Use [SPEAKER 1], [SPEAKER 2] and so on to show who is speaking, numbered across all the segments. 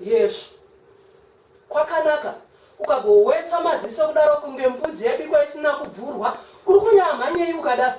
[SPEAKER 1] yes kwakanaka ukagowetsa maziso kudaro kunge mbudzi yabikwa isina kubvurwa uri kunyamhanyei ukadaro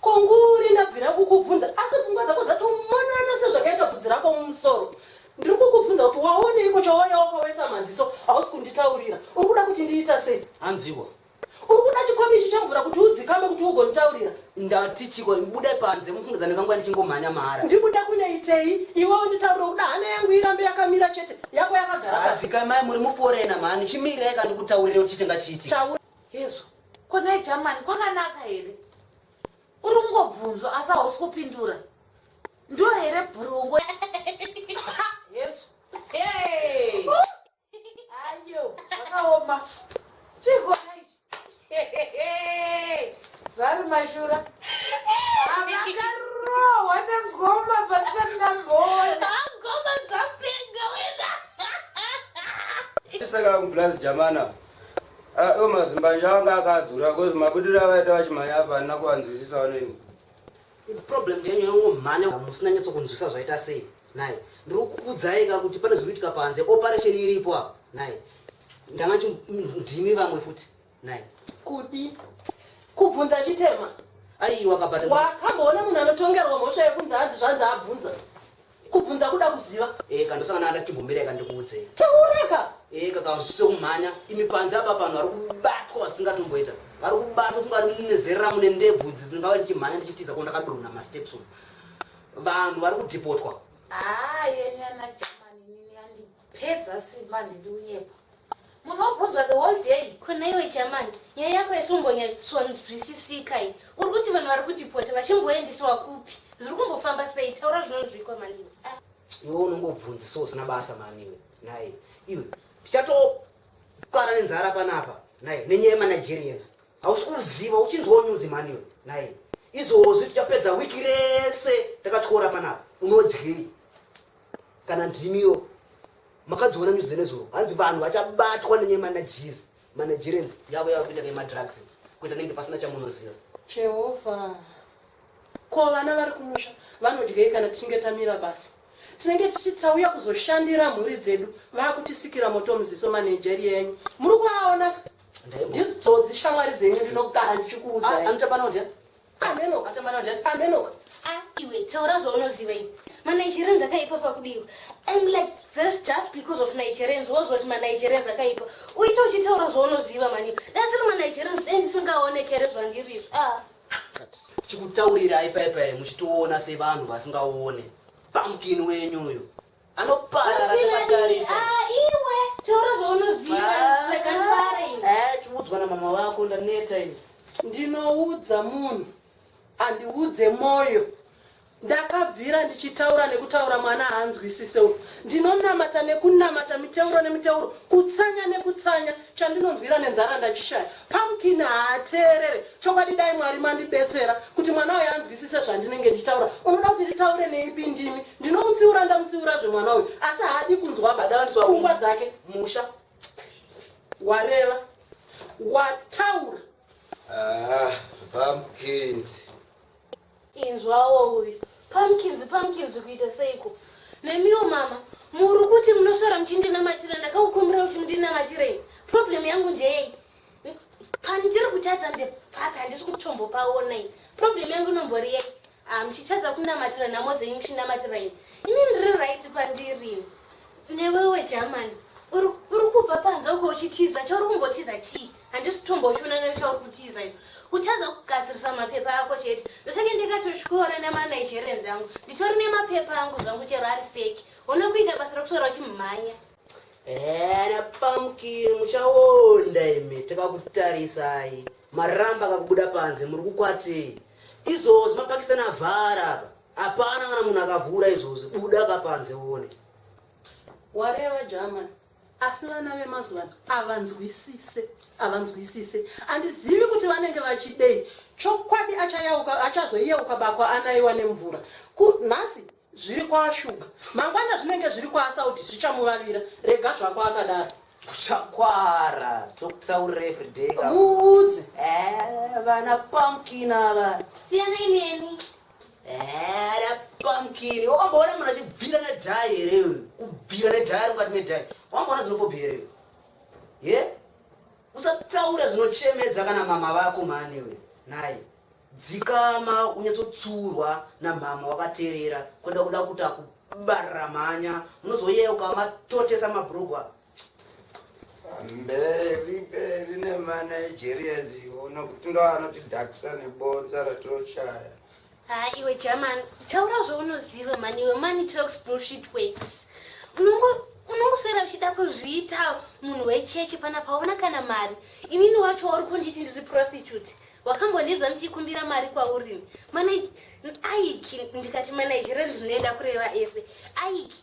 [SPEAKER 1] Konguri ndabvira kukubvunza asi pfungwa dzako dzatomonana sezvakaita bvudzi rako mumusoro. Ndiri kukubvunza kuti waoneiko chawauya wakawetsa maziso hausi kunditaurira. Uri kuda kuti ndiita sei? Hanziwo. Uri kuda chikomichi chemvura kuti udzikame kuti ugonditaurira? Ndati chiko buda panze mufungidza ndinganguva ndichingomhanya mahara. Ndiri kuda kunoitei? Iwe unditaurire kuda hana yangu irambe yakamira chete yako yakagara pasi. Dzikamai muri muforena mhani chimirai kandikutaurire kuti chiite ngachiitike. Taura. Hezvo ko nhai Jamani kwakanaka here? Uri kungobvunzwa asi hausi kupindura. Ndiyo here bhurungo? Hezvo. Hey! Ayo, zvakaoma. Chiko nhai ichi. Hehehe. Zvari mashura. Ah, Makarohwa nengoma zvandisati ndamboona. Ngoma dzapenga wena. Saka kublazi jamana. Ayo mazimbanje anga akadzura kozi mabudiro avaita vachimhanya apa handina kuvanzwisisawo neni. Problem yenyu yongomhanya hamusina nyatso kunzwisa zvaita sei naye. Ndiri kukuudzai ka kuti pane zviri kuitika panze operation iripo apa naye. Ndanga chi ndimi vamwe futi naye. Kuti kubvunza chitema. Aiwa kabata. Wakamboona munhu anotongerwa mhosva yekunzi hanzi zvanzi abvunza. Kubvunza kuda kuziva. Eka ndosangana nada chimbomirai ka ndikuudzei. Taura ka. Eka ka zvisise kumhanya imi panze apa panhu vari kubatwa vasingatomboita vari kubatwa kunga nezerera mune ndebvu idzi dzingava ndichimhanya ndichitiza ko ndakadonha masteps umu vanhu vari kudhipotwa. Haa yenyu ana German inini yandi. Pedza simba handidi kunyepa. Munhu obvunzwa the whole day. Ko nhaiwe Chaman, nyaya yako yesumhonyasonzwisisika iyi. Uri kuti vanhu vari kudepota vachimboendiswa kupi? Zviri kumbofamba sei? Taura zvinonzwikwa mani. Ah. Iwe unongobvunzi so usina basa mani iwe. Nhai, iwe tichatokara nenzara panapa. Nhai, nenyaya yemanagerians. Hausi kuziva uchinzwawo news mani iwe. Nhai, izvozvi tichapedza wiki rese takatyora panapa. Unodyei? Kana ndimi iyo makadziona news dzenezuro hanzi vanhu vachabatwa nenyaya manages managerians yavo yava kuita nemadrugs kuita nenge pasina chamunoziva jehovha ko vana vari kumusha vanodyei kana tichinge tamira basa tinenge tichiti tauya kuzoshandira mhuri dzedu vakutisikira moto muziso manageri yenyu muri kuaona nditsodzi shamwari dzenyu ndinogara ndichikuudzai ah, anochapanodya Amenoka tamara njani amenoka. Ah iwe taura zvaunoziva iwe. Ma Nigerians akaipa pakudiwa. I'm like this just because of Nigerians was what ma Nigerians akaipa. Uite uchitaura zvaunoziva mani. That's why ma Nigerians then singaoneke here zvandiri izvo. Ah. Chikutaurira ipa ipa muchitoona sevanhu vasingaone. Pumpkin wenyu uyo. Anoparara takatarisa. Ah, iwe taura zvaunoziva ah, rega ndifare ini. Eh, chiudzwa na mama vako ndaneta ini. Ndinoudza munhu andiudze moyo ndakabvira ndichitaura nekutaura mwana haanzwisise u ndinonamata nekunamata miteuro nemiteuro kutsanya nekutsanya chandinonzwira nenzara ndachishaya pumpkin haateerere chokwadi dai mwari mandibetsera kuti mwana uyu anzwisise zvandinenge ndichitaura unoda kuti nditaure neipi ndimi ndinomutsiura ndamutsiura zvemwana uyu asi haadi kunzwa badawaniswa pfungwa dzake musha wareva wataura ah, pumpkins Inzwawo uyu pamkinzi pamkinzi kuita seiko nemiwo mama muri kuti munoswera muchindinamatira ndakakukumbira kuti mundinamatirei problem yangu ndeyei pandiri kutadza ndepapi handisi kutombopaona iyi problem yangu inombori yei ah, muchitadza kunamatira nhamo dzenyu muchinamatira ini ini ndiri right pandiri newewe germany uri kubva panze uko uchitiza chauri kumbotiza chii handisi tombochiona nezvauri kutiza iyo kutadza kugadzirisa mapepa ako chete ndosake ndikatosvikora nemanigerance angu nditori nemapepa angu zvangu chero ari feki one kuita basa rekusora uchimhanya ana pamkini muchaonda imi takakutarisai maramba akakubuda panze muri kukwatei izvozvi mapakistani avhara apa hapana kana munhu akavhura izvozvi buda kapanze uone wareva german Asi vana vemazuvano avanzwisise avanzwisise andizivi kuti vanenge vachidei chokwadi achayauka achazoyeuka bako anaiwa nemvura ku nhasi zviri kwaashuga mangwana zvinenge zviri kwaasaudi zvichamuvavira rega zvako akadaro Chakwara tokutaurira everyday ka. Muudze. Eh, vana pumpkin ava. Siyanai neni. Era pumpkin. Wamboona munhu achibvira nedhai here uyu? Kubvira nedhai ari mukati medhai. Wamboona zvinofobhi here uyu? Ye? Usataura zvinochemedza kana mama vako mhani uyu. Nhai. Dzikama unyatsotsurwa namama wakaterera kwenda kuda kuti akubarira mhanya. Unozoyeuka matotesa mabrugwa. mberi mberi nemanigerians iwo nokuti ndo anotidhakisa nebonza ratoshaya haa iwe german taura zvaunoziva mani iwe mani talks bullshit works unongoswera uchida kuzviita munhu wechechi pana paona kana mari inini wacho wauri kunditi ndiri prostitute wakambonidza ndichikumbira mari kwauri aiki ndikati manigerians zvinoenda kureva ese aiki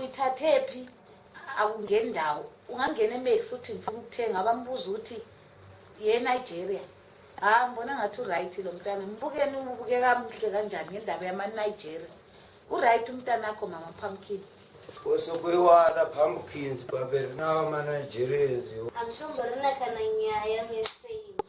[SPEAKER 1] Uitatepi akungeni ndawo ungangene max uti mfi mutenga vambuzi uti ye Nigeria haa mbona ngati uright lo mtana mbukeni ubuke kamuhle kanjani ngendaba yama Nigeria uright mtanakho mama pumpkin Koso kuri wana pumpkins pamberi nawo ma Nigerians iwo. Hamtomborina kana nyaya mese imi.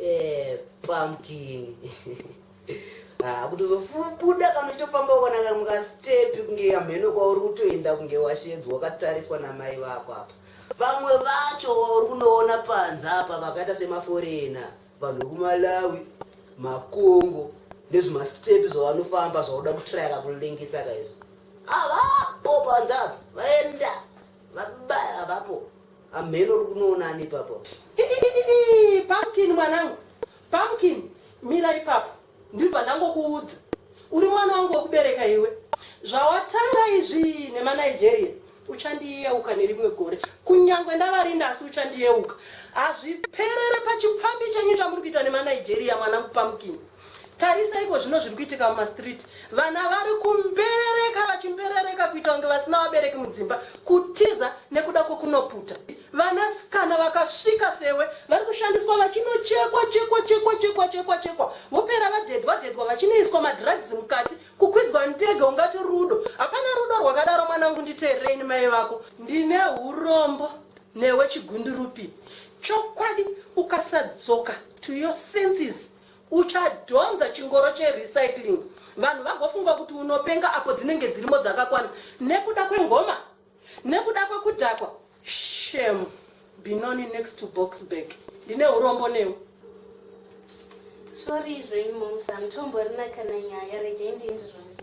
[SPEAKER 1] Eh, pumpkin ah, kuti uzobuda kana uchitofamba ukanaka mukastepi kunge hamheno kwauri kutoenda kunge washedzwa wakatariswa namai vako apa vamwe vacho uri kunoona panze apa vakaita semaforena vanhu vekumalawi makongo nezvimastepi zvavanofamba zvauda kutrayaka kulengesa kaizvo avapo panze apa vaenda vabaya vapo Hamheno uri kunoona ani ipapo apa? Iiiiii Pumpkin mwanangu, Pumpkin mira ipapo ndibva ndangokuudza. Uri mwana wangu wekubereka iwe. Zvawatanga izvii nemaNigeria uchandiyeuka nerimwe gore. Kunyangwe ndavarinda asi uchandiyeuka. Hazviperere pachipfambi chenyu chamuri kuita nemaNigeria mwanangu Pumpkin. Tarisa ikozvino zviri kuitika mumastreet. Vana vari kumberereka vachimberereka kuita kunge vasina vabereki mudzimba, kutiza nekuda kwekunoputa. Vanasikana vakasvika sewe vari kushandiswa vachinochekwa chekwa chekwa chekwa chekwa chekwa vopera vadhedhwa dhedhwa vachinoiswa madrugs mukati kukwidzwa ndege ungati rudo. Hapana rudo rwakadaro mwanangu nditeererei ini mai vako. Ndine hurombo newe chigundurupi. Chokwadi ukasadzoka to your senses. Uchadhonza chingoro che recycling vanhu vagofunga kuti unopenga apo dzinenge dzirimo dzakakwana nekuda kwengoma nekuda kwekudhakwa shem binoni next to boxburg ndine urombo newe Sorry zvenyu moms, hamutomborina kana nyaya, regai ndiende zvangu.